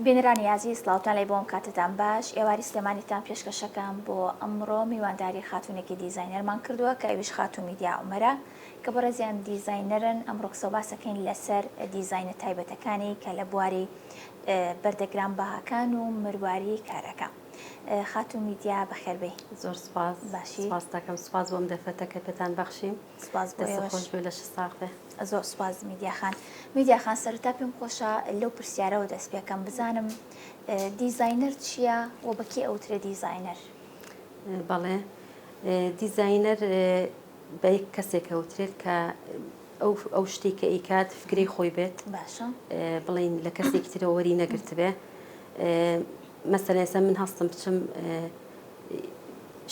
بینەرانی ئازیز سڵاوتان لێبێ وەم کاتەتان باش ئێواری سلێمانیتان پێشکەشەکەم بۆ ئەمڕۆ میوانداری خاتوونێکی دیزاینەرمان کردووە کە ئەویش خاتوو میدیا عومەرە کە بەڕێزیان دیزاینەرن ئەمڕۆ قسەو باسەکەین لەسەر دیزاینە تایبەتەکانی کە لە بواری بەردە گران بەهاکان و مرواری کارەکە خاتوو میدیا بەخێربێی زۆر سپاس باشی سپاستەکەم سپاس بۆم دەفەتە کە پێتان بەخشیم سپاس بۆ ئێوەش. دەستت خۆش بێ لەشت ساغ بێ. زۆر سوپاس میدیا خان. میدیا خان سەرەتا پێم خۆشە لەو پرسیارەوە دەست پێکەم بزانم دیزاینەر چییە و بە کێ ئەوترێ دیزاینەر؟ بەڵێ دیزاینەر بە یەک کەسێک ئەوترێت کە ئەو ئەو شتێک کە ئیکات فکری خۆی بێت باشە بڵین لە کەسێکی ترەوەری نەگرتبێ مەسەلێسە من هەستم بچم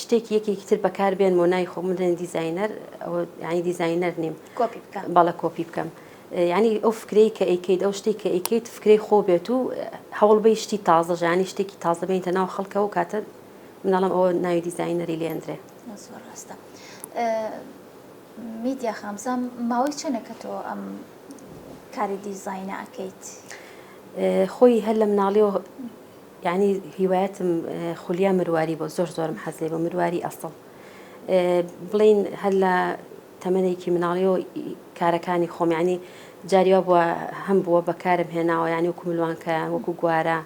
شتێکی یەکێکی تر بەکار بێن بۆ نای خۆم بدەن دیزینەر ئەوە ینی دیزینەر نیم بەڵە کۆپی بکەم ینی ئەو فکرەی کە ئەیکیت ئەو شتێک کە ئەیکیت فکرەی خۆ بێت و هەوڵ بەی شتی تازە ژانی شتێکی تازە بینتە ناو خەڵکە و کاتە منەڵم ئەوە ناوی دیزینەری لێندرێ ڕاستە میدیا خامزان ماوەی چەنە کە تۆ ئەم کاری دیزینە ئەەکەیت خۆی هەر لە مناڵیەوە یانی هیوایەتم خولیا مرواری بۆ زۆر زۆرم حەز لێ بۆ مرواری ئەسڵ بڵین هەر لە تەمەێکی مناڵیەوە کارەکانی خۆمیانی جاریوا بووە هەم بووە بەکارم هێناوە ینی وکو ملوانکە وەکو گوارە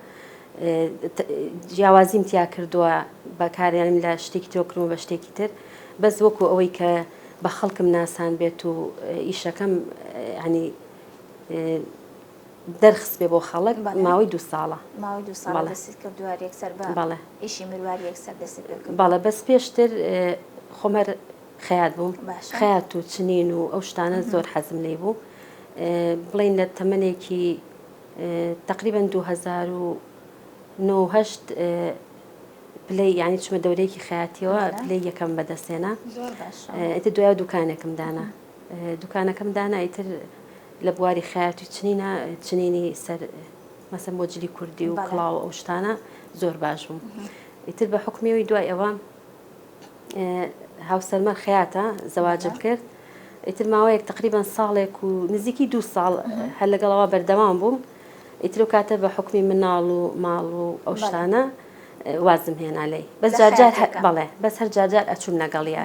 جیاوازیم تیا کردووە بەکاریانم لە شتێکی تۆکرمە بە شتێکی تر بەس وەکو ئەوەی کە بە خەڵکم ناسان بێت و ئیشەکەم ینی دەرخست بێ بۆ خەڵک ماوەی دوو ساڵە ماوەی دوو ساڵە دەستت کردووە یەکسەر بە بەڵێ ئیشی مرواری یەکسەر دەستت پێ کرد بەڵێ بەس پێشتر خۆمەر خەیات بووم خەیات و چنین و ئەو شتانە زۆر حەزم لێ بوو بڵێن لە تەمەێکی تقریبا 2009 پلی ینی چمە دەورەیەکی خاتیەوە پلی یەکەم بەدەستێنە ئەتە دوای دوکانێکم دانا دوکانەکەم دانا ئیتر لە بواری خەیاتی چنینە چنینی سەر مەسم بۆ جلی کوردی و کڵاو ئەو شتانە زۆر باش بووم ئیتر بە حکومەوەی دوای ئەوە هاوسەرمە خەیاتە زەواجم کرد ئیتر ماوەیەک تقریبان ساڵێک و نزیکی دو ساڵ هەر لەگەڵەوە بەردەوام بووم ئیتر و کاتە بە حکومی مناڵ و ماڵ و ئەو شتانە وازم هێنا لی بەس جارجار بەڵێ بەس هەر جارجار ئەچوم لەگەڵیە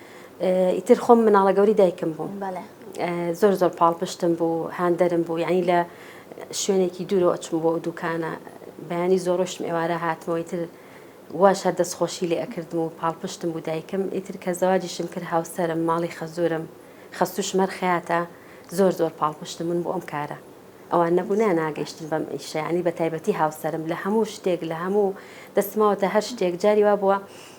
ئیتر خۆم مناڵە گەوری دایکم بووم زۆر زۆر پاڵ پشتم بوو هاندەرم بوو یعنی لە شوێنێکی دوورەوە ئەچم بۆ ئەو دوکانە بەیانی زۆرۆشتم ئێوارە هاتمەوەی تر واش هەر دەستخۆشی لێ ئەکردم و پاڵپشتم بوو دایکم ئیتر کە زەواجیشم کرد هاوسەرم ماڵی خەزورم خەستوش مەرخەیاتە زۆر زۆر پاڵپشتم من بۆ ئەم کارە ئەوان نەبوونا ناگەیشتن بەم ئیشەیانی بە تایبەتی هاوسەرم لە هەموو شتێک لە هەموو دەستماوەتە هەر شتێک جاری وا بووە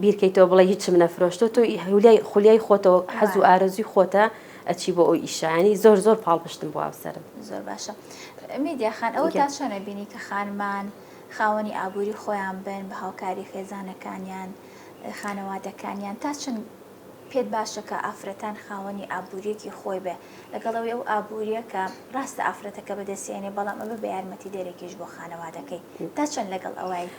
بیرکەیتەوە بڵێ هیچم نەفرۆشتۆ تۆ هولیای خولیای خۆتەوە حەز و ئارەزوی خۆتە ئەچی بۆ ئەو ئیشانی زۆر زۆر پاڵپشتم بۆ ئەوسرم زۆر باشە میدیا خان ئەوە تا چۆنە بینی کە خانمان خاوەنی ئابووری خۆیان بن بە هاوکاری خێزانەکانیان خانەوادەکانیان تا چند پێت باشە کە ئافرەتان خاوەنی ئابووریەکی خۆی بێ لەگەڵەوەی ئەو ئابووریە کە ڕاستە ئافرەتەکە بەدەستێنێ بەڵام ئەمە بە یارمەتی دەرەکیش بۆ خانەوادەکەی تا چەند لەگەڵ ئەویت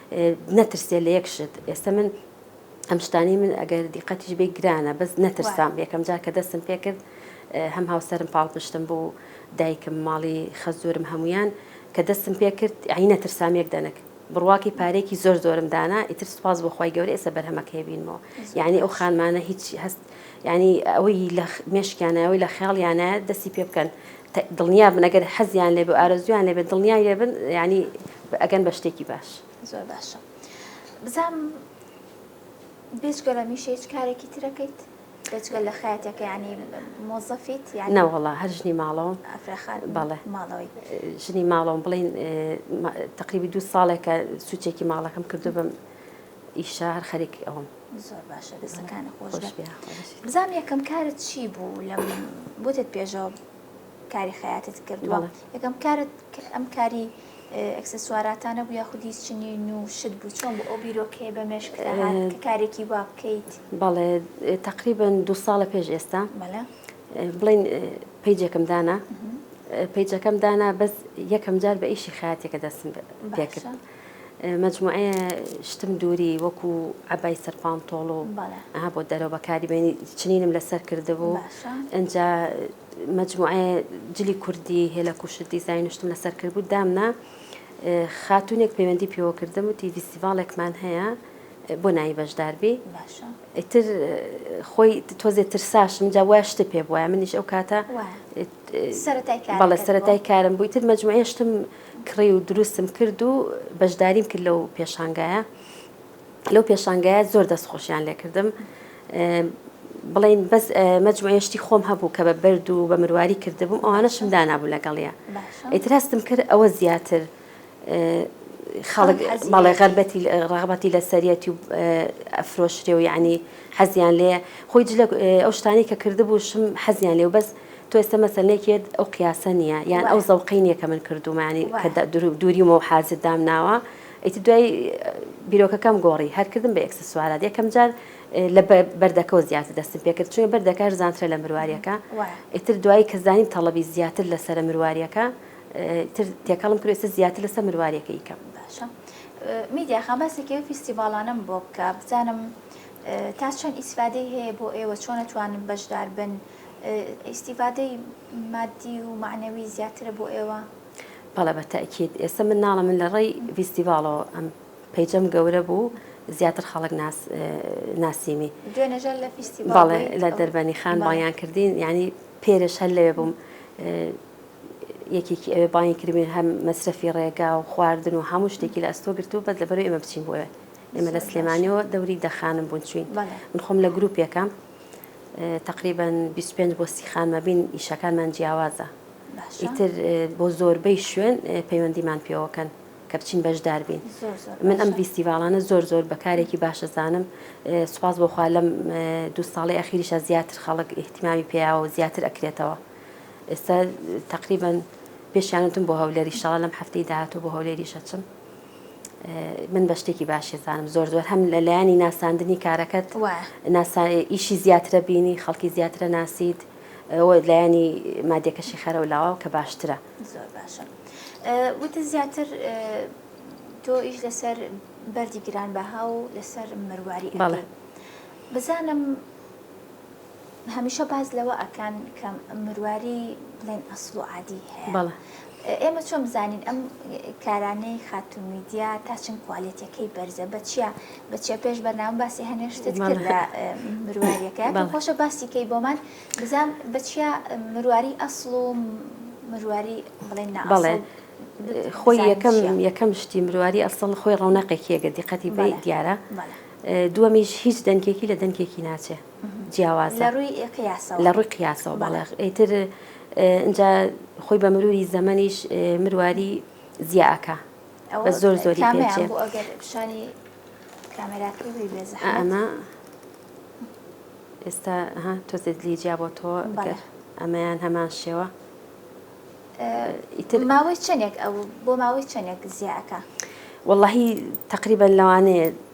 نەترسێ لە یەک شت ئێستا من ئەم شتانی من ئەگەر دیقەتیش بێ گرانە بەس نەترسام یەکەم جار کە دەستم پێ کرد هەم هاوسەرم پاڵ پشتم بوو دایکم ماڵی خەزورم هەمویان کە دەستم پێ کرد عی نەترسام یەک دەنک بڕواکی پارێکی زۆر زۆرم دانا ئیتر سوپاس بۆ خی گەورە ئێستا بەرهەمەکەی بینمەوە یعنی ئەو خانمانە هیچ هەست یانی ئەوەی لە مێشکیانایە ئەوەی لە خەیاڵیانایە دەستی پێ بکەن دڵنیا بن ئەگەر حەزیان لێ بێ ئارەزویان لێ بێ دڵنیای لێ بن یانی ئەگەن بە شتێکی باش زۆر باشە بزانم بێجگە لە میشە هیچ کارێکی ترەکەیت بێجگە لە خاتێکە ینی مۆزەفیت یان ناوەڵا هەر ژنی ماڵەوە ئەفرەخان بەڵێ ماڵەوەی ژنی ماڵەوەم بڵین تقریبی دوو ساڵێکە سوچێکی ماڵەکەم کردو بم ئیشە هەر خەریکی ئەوم زۆر باشە دەستەکانی خۆش بزانام یەکەم کارت چی بوو لە بۆتت پێشەوە کاری خەیاتت کردووە یەکەم کارت ئەم کاری ئەکسسواراتانە بوو یاخود هیچ چنی و شت بوو چۆن بۆ ئەو بیرۆکەیە بە مێشک کارێکی وا بکەیت بەڵێ تقریبن دو ساڵە پێش ئێستا بڵین پیجێکم دانا پیجەکەم دانا بەس یەکەم جار بە ئیشی خاتێکە دەستم پێکرد. مەجموعەیە شتم دووری وەکو عەبای سەر پانتۆڵ و ئەها بۆ دەرەوە بەکاری بێنی چنینم لەسەر کردبوو ئەجا مەجموعە جلی کوردی هێلە کوشت دیزین شتم لەسەر کرد بوو دامنا خاتونێک پەیوەندی پێوە کردم و تی ڤیستیڤالێکمان هەیە بۆ نایی بەشداربی ئیتر خۆی تۆزێ ترساشم جا وای شتە پێ بواە منیش ئەو کاتە بەڵێ سەرەتای کارم بوویتر مەجموعێشتم کڕی و دروستم کرد و بەشداریم کرد لەو پێشانگایە لەو پێشانگایە زۆر دەست خۆشیان لێکردم بڵین بەس مەجموعێشتی خۆم هەبوو کە بە بەرد و بە مرواری کردبووم ئەوانەشم دانابوو لەگەڵە ئیتر هەستم کرد ئەوە زیاتر خەڵک بەڵێ غەربەتی ڕغبەتی لە سەریەتی و ئەفرۆشرێ و یعنی حەزیان لێ خۆی جلە ئەو شتانی کە کردبوو شم حەزیان لێ و بەس تۆ ئێستا مەسەلەیەکێت ئەو قیاسە نییە یان ئەو زەوقەی نییە کە من کردومانی کە دووریمە و حازت دام ناوە ئیتر دوای بیرۆکەکەم گۆڕی هەرکردم بە ئەکسسوارات یەکەم جار لە بەردەکەەوە زیاتر دەستم پێکرد چونە بەردەکار زانترە لە مرواریەکە ئیتر دوایی کە زانیم تەڵەبی زیاتر لەسەر مرواریەکە تر تێکەڵم کرد ئێستا زیاتر لەسەر مرواریەکە یکەم باشە میدیا خان باسێکی ئەو فیستیڤالانم بۆ بکە بزانم تا چەند ئیسفادەی هەیە بۆ ئێوە چۆن نتوانن بەشدار بن ئیستیفادەی مادی و مەعنەوی زیاترە بۆ ئێوە؟ بەڵێ بە تەئکید ئێستا من ناڵێم من لە ڕێی ڤیستیڤاڵەوە ئەم پەیجەم گەورە بوو زیاتر خەڵک ناس ناسیمی دوێنێژە لە فیستیڤاڵ بەڵێ بوویت، لە ئەو- دەربەنی خان بەڵێ. بانیان کردین یعنی پێرش هەر لەوێ بووم اه، یەکێکی ئەوێ بانگی کردبین هەم مەسرەفی ڕێگا و خواردن و هەموو شتێکی لە ئەستۆ گرت و بەس لەبەرەوەی ئێمە بچین بۆ ئێوێ ئێمە لە زۆر باش. سلێمانیەوە دەوری دەخانم بوون چوین بەڵێ. من خۆم لە گروپێکەم تەقریبەن بیست و پێنج بۆ سی خانمەبین ئیشەکانمان جیاوازە ئیتر بۆ زۆربەی شوێن پەیوەندیمان پێوەکەن کە بچین بەشدار بین من ئەم فیستیڤالانە زۆر زۆر بەکارێکی باشەزانم سوپاس بۆخوا لەم دوو ساڵی ئەخیریشە زیاتر خەڵک احتیمامی پیاوە زیاتر ئەکرێتەوە ئێستا تقریبن پێشیانتم بۆ هەولێری شڵە لەم هەفتەی داهاتوو بۆ هەولێریشەچم من بە شتێکی باشی زانم زۆر زۆر هەم لە لایەنی ناساندنی کارەکەت ئیشی زیاترە بینی خەڵکی زیاترە ناسیت ئەوە لایەنی مادێکەشی خەرە و لاواو کە باشترە زۆر باشە وتە زیاتر تۆ ئیش لەسەر بەردی گران بەها و لەسەر مەرواری بەڵێ بزانم هەمیشە باس لەوە ئەکەن کە مرواری بڵێن ئەسڵ و عادی هەیە ئێمە چۆن بزانین ئەم کارانەی خاتو میدیا تا چەند کوالێتەکەی بەرزە بە چیە بە چیە پێش بەرناو باسی هەنێ شتت کرد لە مروارەکە خۆشە باسیکەی بۆمان بزان بە چیە مرواری ئەسڵ و مرواری بڵێن ناڵێن خۆی یەکەم یەکەم شتی مرواری ئەسڵ خۆی ڕەونەقێکیەگە دیقەتی بە دیارە دووەمیش هیچ دەنکێکی لە دەنکێکی ناچێت جیاوازە لە ڕووی قیاسەوە لە ڕووی قیاسەوە بەڵێ ئیتر ئینجا خۆی بە مروری زەمەنیش مرواری زیاکە بە زۆر زۆری پێچێ پیشانی ئەمە ئێستا تۆزێت لیجیا بۆ تۆ ئەمەیان هەمان شێوە ئیتر ماوەی چەندێک ئەو بۆ ماوەی چەندێک زیاکە واللهی تقریبا لەوانەیە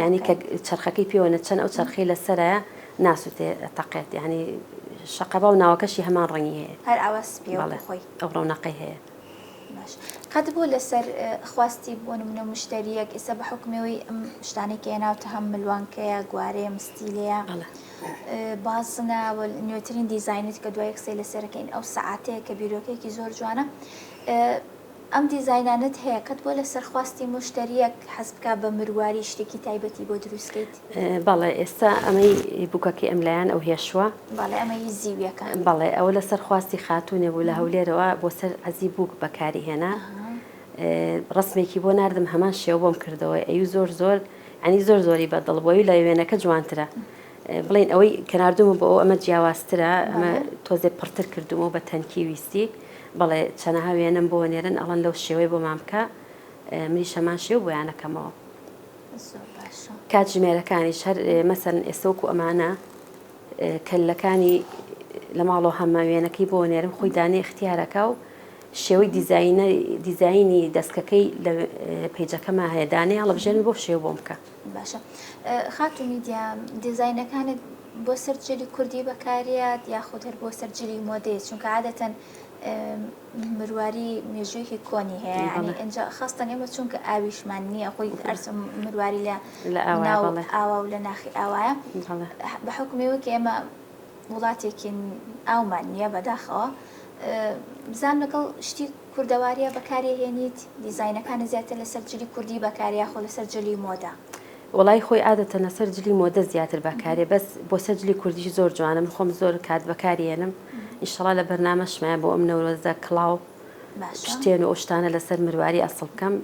یانی کە چەرخەکەی پێوە نەچەن ئەو چەرخەی لەسەرایە ناسوتێ تەقێت یانی شەقەبا و ناوەکەشی هەمان ڕەنگی هەیە هەر ئاوا سپیە خۆی ئەو ڕەونەقەی هەیە باش قەت بۆ لەسەر خواستی بۆ نمونە مشتریەک ئێستا بە حکمەوەی ئەم شتانێکی ناوتە هەم ملوانکەیە گوارەیە مستیلەیە بازنە نوێترین دیزینت کە دوای یەکسێ لەسەرەکەین ئەو سعاتەیە کە بیرۆکەیەکی زۆر جوانە ئەم دیزاینانەت هەیە کەت بۆ لەسەر خواستی موشتەریەک حەز بکا بە مرواری شتێکی تایبەتی بۆ دروست کەیت؟ بەڵێ ئێستا ئەمەی بوکەکەی ئەم لایان ئەو هێشوە؟ بەڵێ ئەمە هی زیویەکە. بەڵێ ئەوە لەسەر خواستی خاتونێ بوو لە هەولێرەوە بۆ سەر عەزی بوک بەکاری هێنا ڕەسمێکی بۆ ناردم هەمان شێوە بۆم کردەوە ئەیو زۆر زۆر یانی زۆر زۆری بە دڵ بوە یو لە وێنەکە جوانترە. بڵێن ئەوەی کە ناردوومە بۆ ئەو ئەمە جیاوازترە ئەمە تۆزێ پڕتر کردومەوە بە تەنکی ویستی بەڵێ چەنەها وێنەم بۆ نێرن ئەڵەن لەو شێوەی بۆمان بکە منی شەمان شێو بۆیانەکەمەوە کات ژمێرەکانی شەر مەسەن ئێستۆک و ئەمانە کەلەکانی لە ماڵۆ هەمە وێنەکەی بۆ نێرم خۆی دانێ اختیارەکە و شێوەی دیزینە دیزینی دەستکەکەی لە پیجەکەمە هەیە دانێ هەڵبژێن بۆ شێو بۆم بکە باشە خاتو میدیا دیزاینەکانت بۆ سەر جلی کوردی بەکاریات یاخود هەر بۆ سەر جلی مۆدەیە چونکە عادەتەن مرواری مێژوویەکی کۆنی هەیە ینی ئەجا خستن ئێمە چونکە ئاویشمان نییە خۆی ئەرس مرواری لە لە ئاوا و لە ناخی ئاوایە بە حکومەوە کە ئێمە وڵاتێکین ئاومان نییە بەداخەوە بزان لەگەڵ شتی کوردەواریە بەکاریەهێنیت؟ دیزاینەکانت زیاتر لەسەر جلی کوردی بەکارە یاخۆ لەسەر جلی مۆدە؟ وەڵایی خۆی عادەتەن لەسەر جلی مۆدە زیاتر بەکارێ بەس بۆ سەر جلی کوردیش زۆر جوانە من خۆم زۆر کات بەکاریێنم ئینشەڵا لە بەرنامەشمایە بۆ ئەم نەورۆزە کڵاو شتێن و ئەو شتانە لەسەر مرواری ئەسڵ بکەم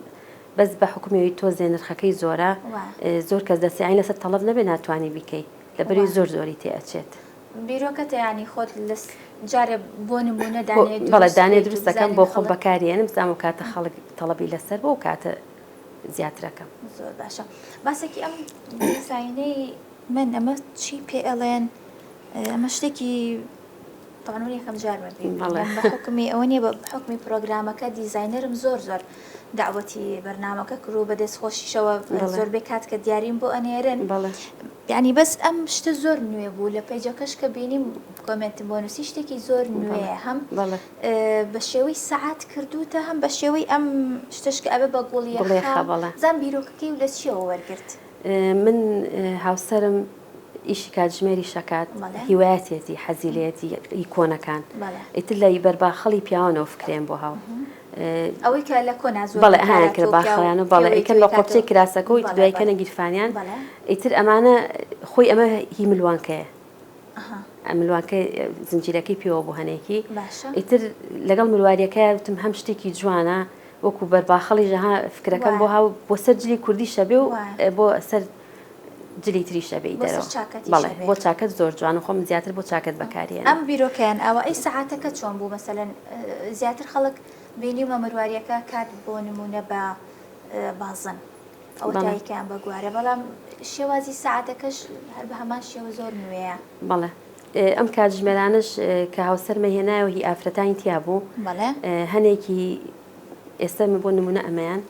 بەس بە حکومیەوەی تۆزێ نرخەکەی زۆرە زۆر کەس دەسیانی لەسەر تەڵب نەبێ ناتوانانی بیکەی لەبەری زۆر زۆری تێ ئەچێت. بیرۆکە تەیانی خۆت لەس جارێ بۆ نمونە دانێ دروست بەڵێ دانێ دروست دەکەم بۆ خۆم بەکاریێنم بزانم کاتە خەڵک تەڵەبی لەسەر بۆ کاتە زیاترەکەم زۆر باشە باسێکی ئەم دیزاینەی من ئەمە چی پێ ئەڵێن ئەمە شتێکی تاانون یەکەم جار بەڵێ حکمی ئەوە نیە بە حکمی پرۆگرامەکە دیزاینەرم زۆر زۆر دەعوەتی بەرنامەکە کرد و بە دەست خۆشیشەوە زۆربەی کات کە دیاریم بۆ ئەنێرن یعنی بەس ئەم شتە زۆر نوێ بوو لە پەیجەکەش کە بینیم کۆمنتم بۆ نووسی شتێکی زۆر نوێ هەم بە شێوەی سعات کردوتە هەم بە شێوەی ئەم شتشکە ئەبێ بە گوڵی زان بیرۆکەکەی و لە چیەوە وەرگرت من هاوسرم ئیشی کاتژمێری شەکات هیوایەتێتی حەزیلێتی ئیکۆنەکان ئیتر لە بەرباخەڵی پیاوانەوە فکرێن بۆ هاو ئەوەی کە لە کۆنا زۆر بەڵێ هەیان کرد باخەوەیان و بەڵێ ئیکەن بە قۆپچەی کراسەکە و دوای کەنە گیرفانیان ئیتر ئەمانە خۆی ئەمە هی ملوانکەیە ملوانکە زنجیرەکەی پێوە بۆ هەنێکی ئیتر لەگەڵ مرواریەکە وتم هەم شتێکی جوانە وەکو بەرباخەڵی ژەها فکرەکەم بۆ هاو بۆ سەر جلی کوردی شەبێ و بۆ سەر جلی تریش ئەبێی بۆ سەر دەرەوە چاکەتیش بەڵێ ئەبێ. بۆ چاکەت زۆر جوانە خۆم زیاتر بۆ چاکەت بەکاری ئەنێم. ئەم بیرۆکەیان ئاوا ئەی سەعاتەکە چۆن بوو مەسەلەن زیاتر خەڵک بینیومە مەرواریەکە کات بۆ نمونە بە بازن ئەوە بەڵێ. تاییکەیان بە گوارە بەڵام شێوازی سەعاتەکەش هەر بە هەمان شێوە زۆر نوێیە بەڵێ ئێ ئەم کاتژمێرانەش ئێ کە هاوسەرمە هێنایەوە هی ئافرەتانی تیا بوو بەڵێ ئێ هەنێکی ئێستا بۆ نمونە ئەمەیان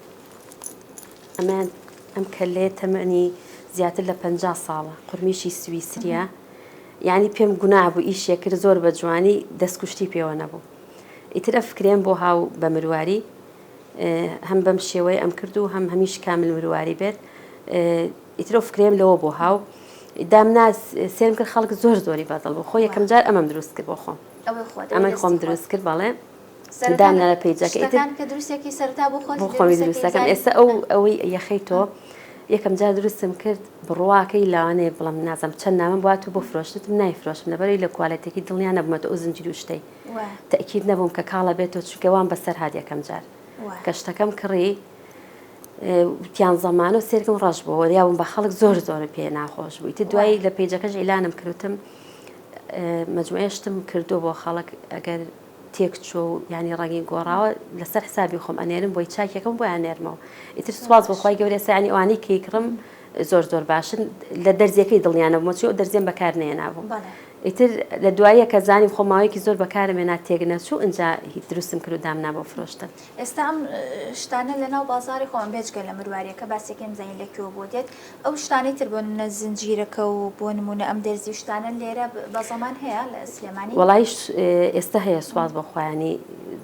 ئەمان ئەم کەلەیە تەمەنی زیاتر لە پەنجا ساڵە قورمیشی سویسریە یعنی پێم گوناه بوو ئیشێ کرد زۆر بە جوانی دەستکوشتی پێوە نەبوو ئیتر ئە فکرێن بۆ هاو بە مرواری هەم بەم شێوەی ئەم کرد و هەم هەمیش کامل مرواری بێت ئیترۆ فکرێم لەوە بۆ هاو دامنا سێرم کرد خەڵک زۆر زۆری بەدڵ بۆ خۆ یەکەم جار ئەمەم دروست کرد بۆ خۆم ئەمە خۆم دروست کرد بەڵێ داننە لە پەیجەکە ئیتر شتەکان کە دروستێکی سەرتا بۆ خۆت بۆ خۆمی دروستەکەی دروستەکەم زانی ئێستا ئەو ها. ئەوەی یەخەی تۆ یەکەم جار دروستم کرد بڕواکەی لاوانەیە بڵم نازم چەند نامەم بوات و بۆ فرۆشتتم نایفرۆشم لەبەرەی لە کوالێتێکی دڵنیا نەبوومە تۆ ئەو زنجیر و شتەی وە تەئکید نەبووم کە کاڵە بێتەوە چونکە وام بەسەر هات یەکەم جار وە کە شتەکەم کڕی اه، وتیان زەمانە و سێرکم ڕەش بوو وەریابووم بە خەڵک زۆر زۆر پێ ناخۆش بوو ئیتر وە دوایی لە پەیجەکەش ئیلانم کردوتم اه، مەجموعەی شتم کردووە بۆ خەڵک ئەگەر تێکچووە و یانی ڕەنگی گۆڕاوە لەسەر حسابی خۆم ئەنێرم بۆی چاکیەکەم بۆی ئەنێرمەوە ئیتر سوپاس بۆ خوای گەورە ئێستا یانی ئەوانەی کەیکڕم زۆر زۆر باشن لە دەرزیەکەی دڵنیا نەبوومە چی ئەو دەرزیەم بەکار نەهێنابوو ئیتر لە دواییە کە زانیم خۆ ماوەیەکی زۆر بەکارم هێنا تێک نەچوو ئینجا هی دروستم کرد و دامنا بۆ فرۆشتن. ئێستا ئەم شتانە لەناو بازاڕی خۆمان بێجگە لە مرواریەکە باسیەکەی بزانین لە کوێوە بۆ دێت ئەو شتانەی تر بۆ نمونە زنجیرەکە و بۆ نمونە ئەم دەرزی و شتانە لێرە بە زەمان هەیە لە سلێمانی؟ وەڵایش ئێستا هەیە سواز بە خوایانی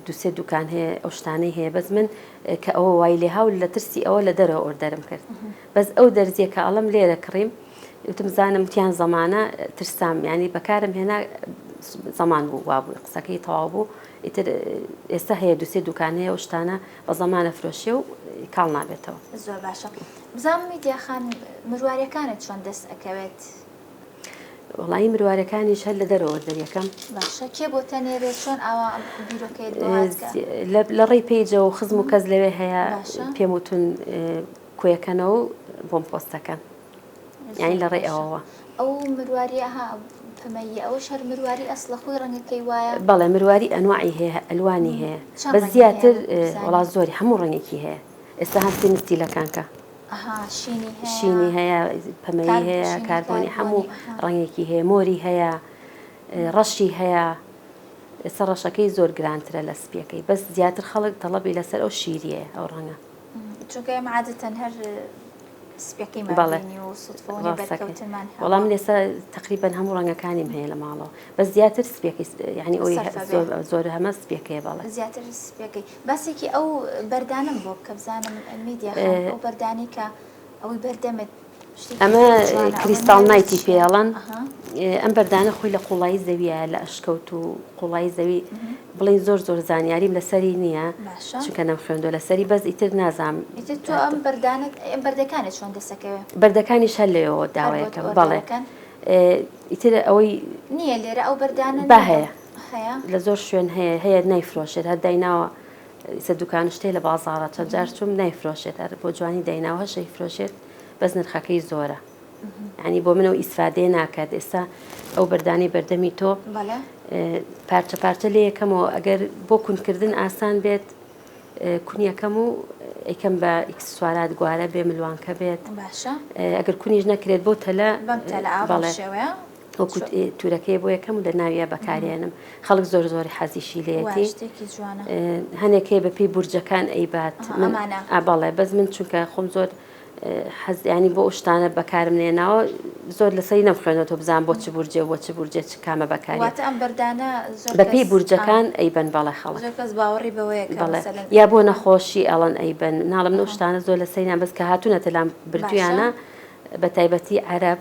دوسێ دوکان هەیە ئەو شتانەی هەیە بەس من کە ئەوە وای لێ هاول لە ترسی ئەوە لە دەرەوە ئۆردەرم کرد بەس ئەو دەرزیە کە ئەڵم لێرە کڕیم وتم زانم تیان زەمانە ترسام ینی بەکارم هێنا زەمان بوو وابوو قسەکەی تەواو بوو ئیتر ئێستا هەیە دوسێ دوکان هەیە ئەو شتانە بە زەمان ئەفرۆشێ و کاڵ نابێتەوە. زۆر باشە بزانم میدیا خان مروارەکانت چۆن دەست ئەکەوێت؟ وڵی مروارەکانیش هەر لە دەرەوە دەریەکەم باشە کێ بۆ تەنێرێت چۆن ئاوا بیرۆکەیت لە ڕێی پیجە و خزم و کەس لەوێ هەیە پێم وتون کۆیەکەنەوە بۆم پۆستەکەن. یانی لە ڕێ ئەوەوە ئەو مرواری ئەها پەمەییە ئەوەش هەر مرواری ئەسڵە خۆی ڕەنگەکەی وایە بەڵێ مرواری ئەنوعی هەیە ئەلوانی هەیە بە زیاتر وڵات زۆری هەموو ڕەنگێکی هەیە ئێستا هەستی مستی لەکانکە شینی هەیە پەمەی هەیە کاربۆنی هەموو ڕەنگێکی هەیە مۆری هەیە ڕەشی هەیە ئێستا ڕەشەکەی زۆر گرانترە لە سپیەکەی بەس زیاتر خەڵک تەڵەبی لەسەر ئەو شیریە ئەو ڕەنگە چونکە ئێمە عادەتەن هەر سپێکەیمان بەڵێ. بینی و سوتفەوە نیە ڕاستەکەی. بەرکەوتنمان هەبووە. وەڵام لێسە تقریبەن هەموو ڕەنگەکانیم هەیە لە ماڵەوە بەس زیاتر سپیەکەی س- یعنی ئەوی هە- سەرفەکەی. زۆر زۆر هەمە سپیەکەیە بەڵێ زیاتر سپیەکەی باسێکی ئەو بەردانەم بۆ بکە بزانم میدیا خان ئەو بەردانەی کە ئەمە کریستاڵ نایتی پێڵەن ئەم بەردانە خۆی لە قوڵایی زەویە لە ئەشکەوت و قوڵایی زەوی بڵین زۆر زۆر زانیاریم لەسەری نییە چونکە نەم خوێندۆ لەسەری بەس ئیتر نازام بەردەکانی چۆن دەسەکەوێت بەردەکانی شەر لەوە داوایەکە بەڵێ ئیتر ئەوەی نییە لێرە ئەو بەردانە بە هەیە لە زۆر شوێن هەیە هەیە نایفرۆشێت هەر دایناوە سە دوکان شتێ لە بازاڕە چەند جار چوم نایفرۆشێت ئەر بۆ جوانی دایناوە هەشە ئیفرۆشێت بەس نرخەکەی زۆرە ینی بۆ منەوە ئیسفادێ ناکات ئێستا ئەو بەردانی بەردەمی تۆ پارچە پارچە لێ یەکەمەوە ئەگەر بۆ کونکردن ئاسان بێت کونیەکەم و ئەیکەم بە ئیکسسوارات گوارە بێ ملوانکە بێت ئەگەر کونیش نەکرێت بۆ تەلە بەڵێ وەکو تورەکەی بۆ یەکەم لە ناویە بەکارێنم خەڵک زۆر زۆری حەزیشی لێتی هەنێکەی بەپی بورجەکان ئەیبات ئاباڵێ بەس من چونکە خۆم زۆر حەزیانی بۆ شتانە بەکارم نێناوە زۆر لەسەری نەم خوێنەوە تۆ بزان بۆ چ بورجێ بۆ چ بورجێ چ کامە بەکاری ئەم بەردانە بەپی بورجەکان ئەیبەن بەڵێ خەڵ کەس باوەڕی بەوەیە بەڵێ یا بۆ نەخۆشی ئەڵەن ئەیبەن ناڵم نەشتانە زۆر لەسەریان بەس کە هاتوونەتە لام بردویانە بە تایبەتی عەرب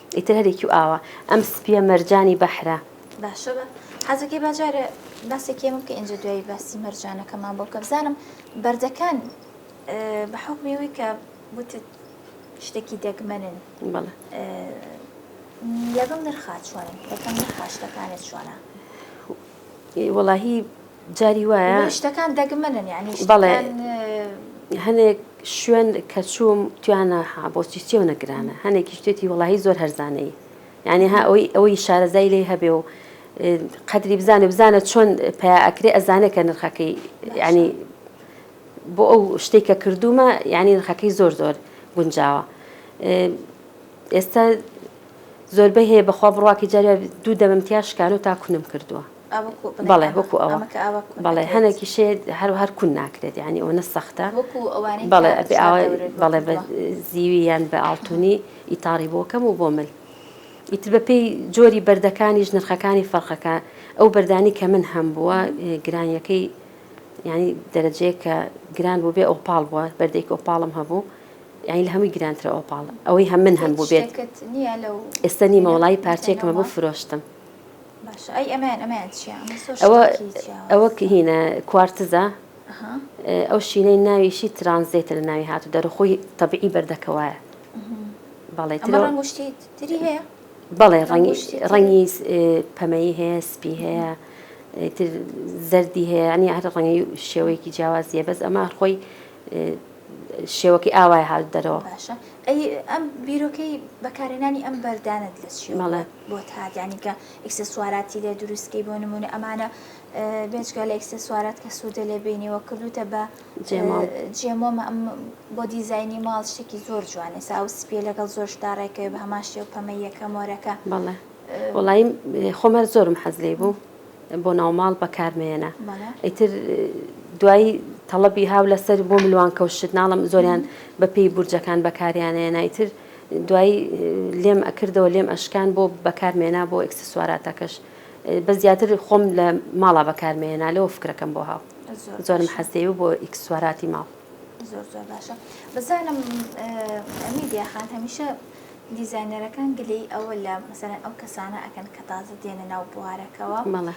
ئیتر هەر یەکیو ئاوا. ئەم سپیە مەرجانی بەحرە. باشە بە حەزەکەی با جارێ باسێکی ئەمە بکە ئینجا دوایی باسی مەرجانەکەمان بۆ بکە بزانم بەردەکان بە حوکمی ئەوی کە وتت شتێکی دەگمەنن بەڵێ لەگەڵ نرخا چۆنن یەکەم نرخا شتەکانت چۆنە؟ وەڵاهی جاری وایە. بۆیە شتەکان دەگمەنن یانی شتەکان. بەڵێ هەنێک شوێن کە چووم تویانە ها بۆ سیستیۆنە گرانە هەنێکی شتێتی وەڵاهی زۆر هەرزانەی یعنی ها ئەوی ئەوەی شارەزای لێ هەبێ و قەدری بزانێ بزانە چۆن پیاکرێ ئەزانێ کە نرخەکەی ینی بۆ ئەو شتێک کە کردومە یعنی نرخەکەی زۆر زۆر گونجاوە ئێستا زۆربەی هەیە بەخوا بڕواکە جاریا دوو دەمەمتیا شکانە و تاکوونم کردووە بەڵێ وەکو ئەوە بەڵێ هەنێکی شێ هەرو هەر کون ناکرێت ینی ئەوە نە سەختە بەڵێ بەڵێ بە زیوی یان بە ئاڵتونی ئیتاڕی بۆکەم و بۆ مل ئیتر بە پێی جۆری بەردەکانیش نرخەکانی فەرقەکە ئەو بەردانی کە من هەم بووە گرانیەکەی ینی دەرەجەیە کە گران بوو بێ ئۆپاڵ بووە بەردێک ئۆپاڵم هەبوو یعنی لە هەمووی گرانترە ئۆپاڵ ئەوەی هەم من هەم بوو بێت ئێستا نیمە وڵی پارچێکمە بۆ فرۆشتم ئەوە هینە کوارتزە ئەو شینەی ناویشی ترانزێتە لە ناوی هاتو دەرخۆی تەبیعی بەردەکەوایە بەڵێ بەڵێ ڕەنگی پەمەیی هەیە سپی هەیە زەردی هەیە ئەنی هەر ڕەنگی شێوەیەکی جیاوازیە بەس ئەمە خۆی شێوەکی ئاوای هاات دەرەوە ئەم بیرۆکەی بەکارێنانی ئەم بەردانت لە چیڵە بۆ تاک یانی کە ئیکسسواراتی لێ دروستکەی بۆ نمونە ئەمانە بێجگە لە ئیکسسوارات کە سوودە لێ بینیەوە کردوتە بە جێمۆ بۆ دیزایانی ماڵ شتێکی زۆر جوانێ ساو سپیە لەگەڵ زۆر شتا ڕێکەوە بە هەمان شێ و پەمە یەکە مۆرەکە بەڵێ وڵی خۆمەر زۆرم حەز لێ بوو بۆ ناوماڵ بەکارمێنە ئیتر دوایی تەڵەبی هاو لەسەر بۆ ملوان کەوشت ناڵم زۆریان بەپی بورجەکان بەکاریانەیە نایتر دوایی لێم ئەکردەوە لێم ئەشکان بۆ بەکار مێنا بۆ ئێکسسواراتەکەش بەس زیاتر خۆم لە ماڵا بەکار مێنا لەوە فکرەکەم بۆ هاو زۆرم حەزێ و بۆ ئیکسسواراتی ماڵ زۆر زۆر باشە بزانم ئەمیدیا خان هەمیشە دیزایینەرەکان گلەی ئەوە لە مەسەرەن ئەو کەسانە ئەکەن کە تازە دێنە ناو بوارەکەەوە مەڵە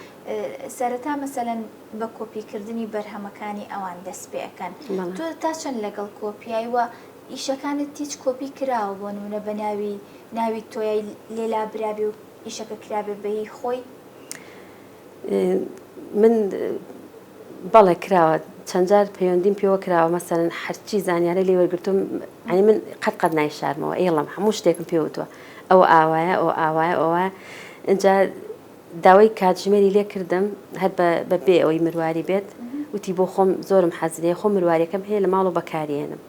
سەرەتا مەسەەن بە کۆپیکردنی بەرهەمەکانی ئەوان دەست پێەکەن تۆ تا چەند لەگەڵ کۆپیایی وە ئیشەکانت هیچ کۆپی کراوە بۆ نمونە بە ناوی ناوی تۆیای لێ لابرابێ و ئیشەکە کرابێ بە هی خۆی؟ من بەڵێ کراوە چەند جار پەیوەندیم پێوە کراوە مەسەن هەرچی زانیارە لێ وەرگتم ئەنی من قەت قەت نای شارمەوە ئێڵم هەموو شتێکم پێوتوە ئەو ئاوایە ئەو ئاوایە ئەوە ئەجا داوای کاتژمێری لێ کردم هەر بە بێ ئەوەی مرواری بێت وتی بۆ خۆم زۆرم حەز لێ خۆم مرواریەکەم هەیە لە ماڵەوە بەکاریێنم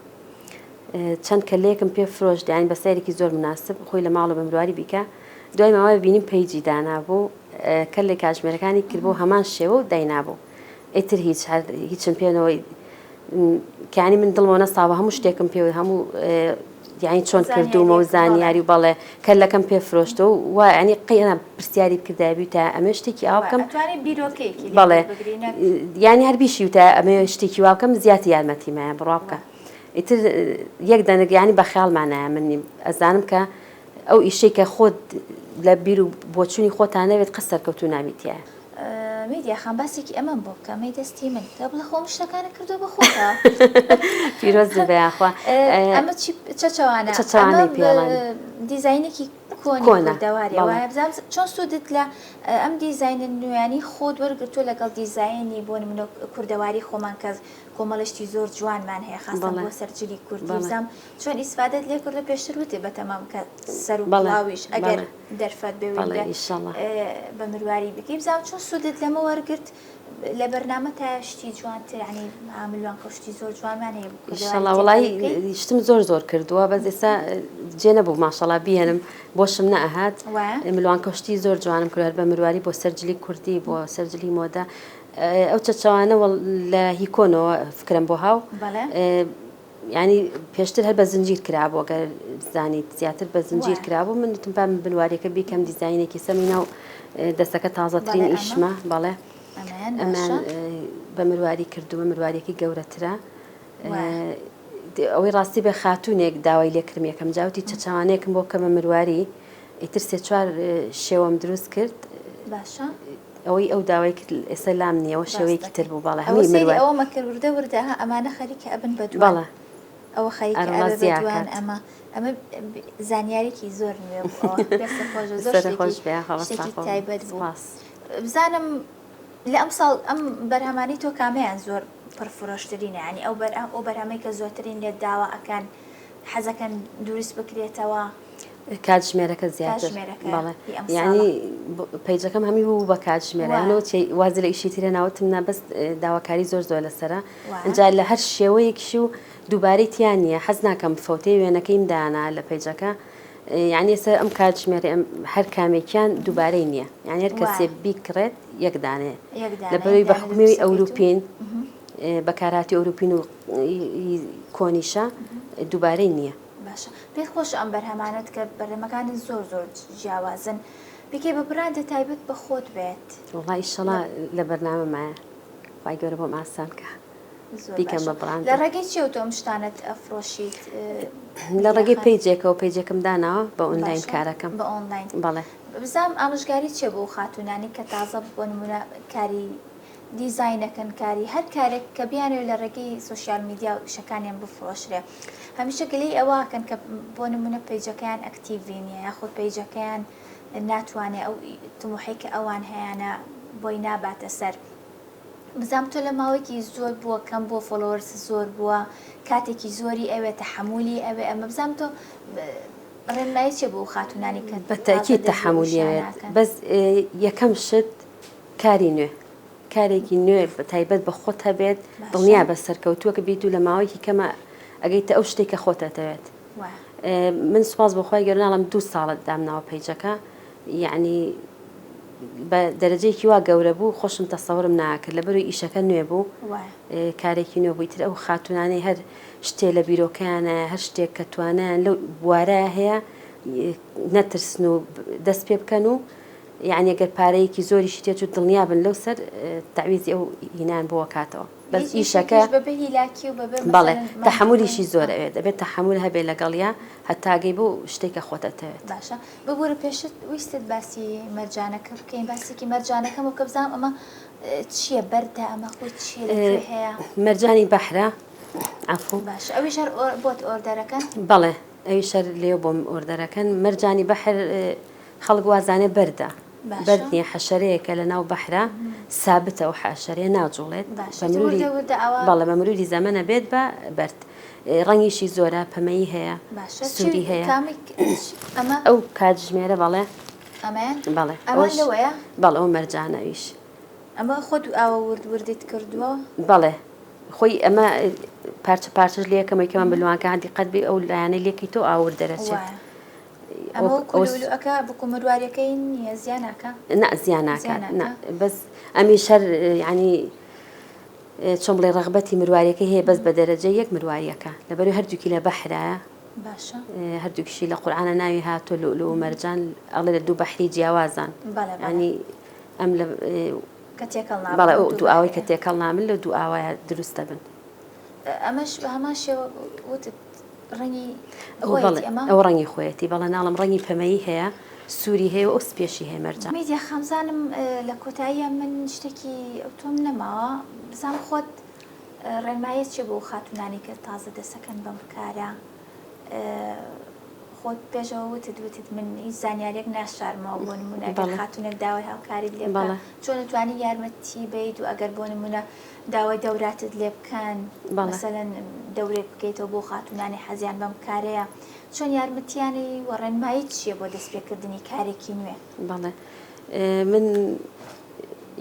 چەند کەلەیەکم پێ فرۆش دیان بە سەیرێکی زۆر مناسب خۆی لە ماڵە بە مرواری بیکە دوای ماوای بینیم پەیجی دانابوو کە لە کاتژمێرەکانی کرد بۆ هەمان شێوە و داینابوو ئیتر هیچ هەر هیچم پێنەوەی کانی من دڵمە نەساوە هەموو شتێکم پێوەی هەموو یعنی چۆن کردومە و زانیاری بەڵێ کە لەکەم پێ فرۆشتە و و ینی قینا پرسیاری بکردابی تا ئەمە شتێکی ئاوکەم بەڵێ یانی هەر بیشی وتە ئەمە شتێکی واکەم زیاتی یارمەتیمایە بڕا بکە ئیتر یەک دەنگیانی بە خیاڵمانایە من نیم ئەزانم کە ئەو ئیشەی کە خۆت لە بیر و بۆچووی خۆتانەوێت قەسەر کەوتو ناویتە میدیا خان باسێکی ئەمەم بۆ بکە مەی دەستی من بکە بڵە خۆم شتەکانە کردو بە خۆتە پیرۆز بێ یاخوا ئەمە چی چەچەوانە چەچەوانەی پێڵەن دیزاینێکی کۆنە دەوارێ وایە بزانم چۆن سوودت لە ئەم دیزاینە نوێیانی خۆت وەرگرتو لەگەڵ دیزایانی بۆ منۆ کوردەواری خۆمان کەس کۆمەڵشتی زۆر جوانمان هەیە خاستە بۆ سەرجلی کوردی بزانم چۆن ئیسفادت لێ کردو پێشتر وتێ بەتەمام کە سەر و بەڵاویش ئەگەر دەرفەت بەوێ بە مرواری بکەی بزانام چۆن سوودت لەمە وەرگرت لە بەرنامە تا شتی جوانترانی ئاملوان کەشتی زۆر جوانمان هەیەڵی شتم زۆر زۆر کردووە بە ئێستا جێ نەبوو ماشەڵا بێنم بۆشم نەهات ملوان کەشتی زۆر جوانم کرد بە مرواری بۆ سەرجلی کوردی بۆ سەرجلی مۆدە ئەو چەچوانە لە هیکۆنەوە فکرم بۆ هاو یانی پێشتر هەر بە زنجیر کرابوو گەر زانیت زیاتر بە زنجیر کرابوو من تم پام بنوارەکە بیکەم دیزینێکی سەمی ناو دەستەکە تازەترین ئیشمە بەڵێ ئەمان بە مرواری کردووە مروارێکی گەورەترە ئەوەی ڕاستی بە خاتونێک داوای لێکرم یەکەم جاوتی چەچوانێکم بۆ کەمە مرواری ئیتر سێ چوار شێوەم دروست کرد باشە ئەوەی ئەو داوای کرد ئێستا لام نییە ئەوە شێوەیەکی تر بوو بەڵێ هەمووی مرواری ئەوە سەیری ئەوە مەکە وردە وردە ها ئەمانە خەریکە ئەبن بە دووان بەڵێ ئەوە خەریکە ئەبێ بە دووان ئەمە ئەرمەزیاکات ئەمە زانیاریکی زۆر نوێ بوو ئەوە دەستە خۆش زۆر سەر شتێکی خۆش بێ خەڵە شتێکی ساخۆ بن تایبەت بوو سپاس بزانم لە ئەم ساڵ ئەم بەرهەمانی تۆ کامیان زۆر پڕفرۆشترینە ینی ئەو بەر ئەو بەرهەمەی کە زۆترین لێت داوا ئەکەن حەزەکەن دروست بکرێتەوە کاتژمێرەکە زیاتر ینی پیجەکەم هەمی بوو بە کاتژمێرانەوە وازی لە ئیشی ترە ناوتم نابەس داواکاری زۆر زۆر لەسرە ئەجا لە هەر شێوەیەکیش و دووبارەی تیان نییە حەز ناکەم فەوتەی وێنەکەیم دانا لە پیجەکە یعنی ئێستا ئەم کاتژمێری ئەم هەر کامێکیان دووبارەی نییە یعنی هەر کەسێ بیکڕێت یەکدانێ لە بەوی بە حکومی ئەوروپین بەکارهاتی ئەوروپین و کۆنیشە دووبارەی نییە باشە پێت خۆشە ئەم بەرهەمانەت کە بەرهەمەکانت زۆر زۆر جیاوازن بیکەی بە براندە تایبەت بە خۆت بێت وڵا ئیشەڵا لە بەرنامە مایە خی گەورە بۆم ئاسان کە بیکەم بە براند لە ڕێگەی چێ و تۆم شتانت ئەفرۆشیت لە ڕێگەی پێیجێکەوە پێیجێکم داناوە بە ئۆنلاین کارەکەم بە ئۆنلاین بەڵێ بزام ئامژگاری چێ بۆ خاتونانی کە تازە بۆ نمونە کاری دیزینەکەن کاری هەر کارێک کە بیانوێت لە ڕێگەی سوسیال میدیا و شەکانیان بفرۆشرێ هەمیشە گلەی ئەوەکەن کە بۆ نمونە پەیجەکەیان ئەکتیڤی نیە یاخود پەیجەکەیان ناتوانێ ئەو تموحەی کە ئەوان هەیانە بۆی ناباتە سەر بزام تۆ لە ماوەیەکی زۆر بووە کەم بۆ فۆلۆرس زۆر بووە کاتێکی زۆری ئەوێ تەحملی ئەوێ ئەمە بزام تۆ ڕێنمایی چێ بۆ خاتونانی کە بەتەکی تەحملی بەس یەکەم شت کاری نوێ کارێکی نوێ تایبەت بە خۆت هەبێت دڵنیابە سەرکەوتووەک بیت و لە ماوەیەکی کەمە ئەگەیتە ئەو شتێک کە خۆت ئەتەوێت من سوپاس بۆخوای گەرناڵم دوو ساڵت دامناوە پیجەکە یعنی بە دەرەجەیەکی وا گەورە بوو خۆشم تەسەورم ناکرد لە بەروی ئیشەکە نوێ بوو کارێکی نوێ بوویتر ئەو خاتونانەی هەر شتێ لە بیرۆکەیانە هەر شتێک کە توانیان لەو بوارە هەیە نەترسن و دەست پێ بکەن و یەعنی گەر پارەیەکی زۆریشی تێچوو دڵنیابن لەو سەر تەعویزی ئەو هینایان بۆ ئەکاتەوە بەس ئیشەکە بەڵێ تەحەمولیشی زۆر ئەوێت دەبێت تەحەمول هەبێ لەگەڵیا هەتاگەی بۆ شتێکە خۆت ئەتەوێت باشە ببورە پێشت ویستت باسی مەرجانەکە بکەین باسێکی مەرجانەکە بۆ کە بزانام ئەمە چییە بەردە ئەمە خۆی چی هەیە مەرجانی بەحرە ئەفو باش ئەوی شەر بۆت ئۆردەرەکەن بەڵێ ئەوی شەر لێ بۆم ئۆردەرەکەن مەرجانی بەحر خەڵک وازانێ بەردە بەرد نیە حەشەرەیەکە لەناو بەحرا سابتە ئەو حەشەرەیە ناجوڵێت بەڵێ بە مروری زەمەنە بێت بە بەرد ڕەنگیشی زۆرە پەمەیی هەیە سووری هەیە ئەو کاتژمێرە بەڵێ بەڵێ بەڵ ئەو مەرجانەویش ئەمە خۆت ئاوە ورد وردیت کردووە بەڵێ خۆی ئەمە پارچە پارچش لەکەمەکەمان بلوانکە هەندی قەت بێ ئەو لایەنە لێکی تۆ ئاور دەرەچێت. ئەمە وەکو لولوئەکە وەکو مرواریەکەی نیە زیا ناکا نا زیا ناکا نا بەس ئەمی شەر یعنی چۆن بڵێ ڕغبەتی مرواریەکە هەیە بەس بە دەرەجە یەک مرواریەکە لەبەر هەردووکی لە بەحرایە باشە هەردووکیشی لە قورآانە ناوی هاتۆ لولو و مەرجان ئەڵێ لە دوو بەحری جیاوازان ینی ئەم لە کە تێکەڵ بەڵێ دوو ئاوای کە تێکەڵ نامن لە دوو ئاوایە دروستە بن ئەمەش بە هەمان شێوە وتت ڕەنگی ئەوە بەڵێ خۆیەتی ئەمە؟ ئەوە ڕەنگی خۆیەتی بەڵێ ناڵم ڕەنگی پەمەیی هەیە سووری هەیە و ئەو سپیەشی هەیە مەرجان میدیا خامزانم لە کۆتاییە من شتێکی ئەوتۆم نەماوە بزانم خۆت ڕێنماییت چیە بۆ خاتوونانی کە تازە دەسەکەن بەم کارە خۆت پێشەوە وتت وتت من هیچ زانیاریەک ناشارمەوە بۆ نمونە گەر بەڵێ. خاتوونێک داوای هاوکاریت لێ بکات بەڵێ. چۆن توانی یارمەتی بیت و ئەگەر بۆ نمونە داوای دەوراتت لێ بکەن مەسەلەن دەورێک بکەیتەوە بۆ خاتونانی حەزیان بەم کارەیە چۆن یارمەتیانی و ڕێنمایی چییە بۆ دەستپێکردنی کارێکی نوێ بەڵێ من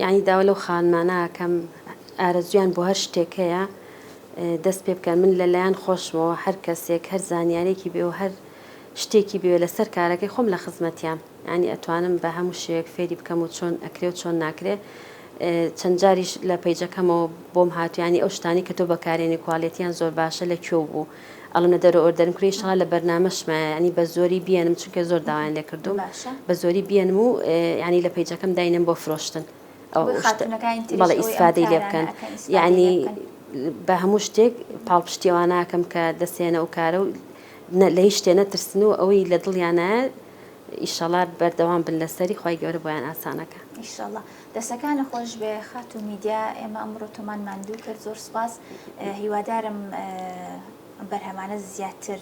یعنی داوا لەو خانمانەکەم ئارەزویان بۆ هەر شتێک هەیە دەست پێ بکەن من لەلایەن خۆشمەوە هەر کەسێک هەر زانیارێکی بێ و هەر شتێکی بوێ لەسەر کارەکەی خۆم لە خزمەتیام یانی ئەتوانم بە هەموو شێوەیەک فێری بکەم و چۆن ئەکرێ و چۆن ناکرێ چەند جاریش لە پەیجەکەمەوە بۆم هاتوو یانی ئەو شتانی کە تۆ بەکارێنی کوالێتیان زۆر باشە لە کوێ و بوو ئەڵم لە دەرە ئۆردەرم کری شڵا لە بەرنمەشمایە ینی بە زۆری بیێنم چونکە زۆر داوایان لێ کردوم بە زۆری بیێنم و ینی لە پەیجەکەم داینم بۆ فرۆشتن بەڵە ئیسفادەی لێ بکەن یعنی بە هەموو شتێک پاڵپشتیواناکەم کە دەسێنە و کارە و نە لە هیچ شتێ نەترسن و ئەوەی لە دڵیانایە ئیشەڵا بەردەوام بن لەسەری خوای گەورە بۆیان ئاسانەکە. ئیشەڵا. دەستەکانت خۆش بێ خاتوو میدیا ئێمە ئەمڕۆ تۆمان ماندوو کرد زۆر سوپاس هیوادارم ئەم بەرهەمانە زیاتر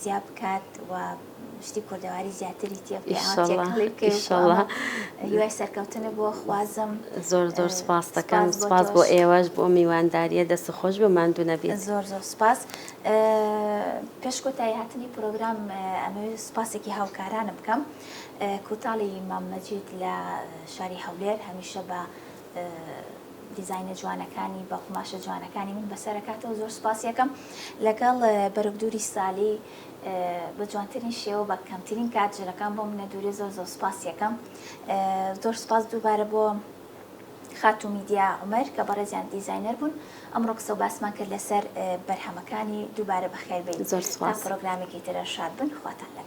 زیا بکات و شتی کوردەواری زیاتری تێ ئیشەڵڵا هیوای سەرکەوتنە بۆ خوازم زۆر زۆر سپاس دەکەم سپاس بۆ ئێوەش بۆ میوانداریە دەست خۆش بە ماندوو نەبێت زۆر زۆر سپاس پێش کۆتایی هاتنی پرۆگرام ئەمەوێت سپاسێکی هاوکارانم بکەم کوتاڵی مامەجید لە شاری هەولێر هەمیشە بە دیزینە جوانەکانی بە قوماشە جوانەکانی من بەسەرکاتەوە زۆر سپاسیەکەم لەگەڵ بەرەبدووری سالی بە جوانترین شێوە بە کەمترین کات ژنەکان بۆ منە دوورێ زۆر زۆر سپاس یەکەم زۆر سپاس دووبارە بۆ خاتو میدیا عمر کە بەڕێزیان دیزینەر بوون ئەمڕۆ قسە و باسمان کرد لەسەر بەرهەمەکانی دووبارە بەخێربێت زۆر سپاس پرۆگرامێکی ترە شاد بن خواتان لەگەڵ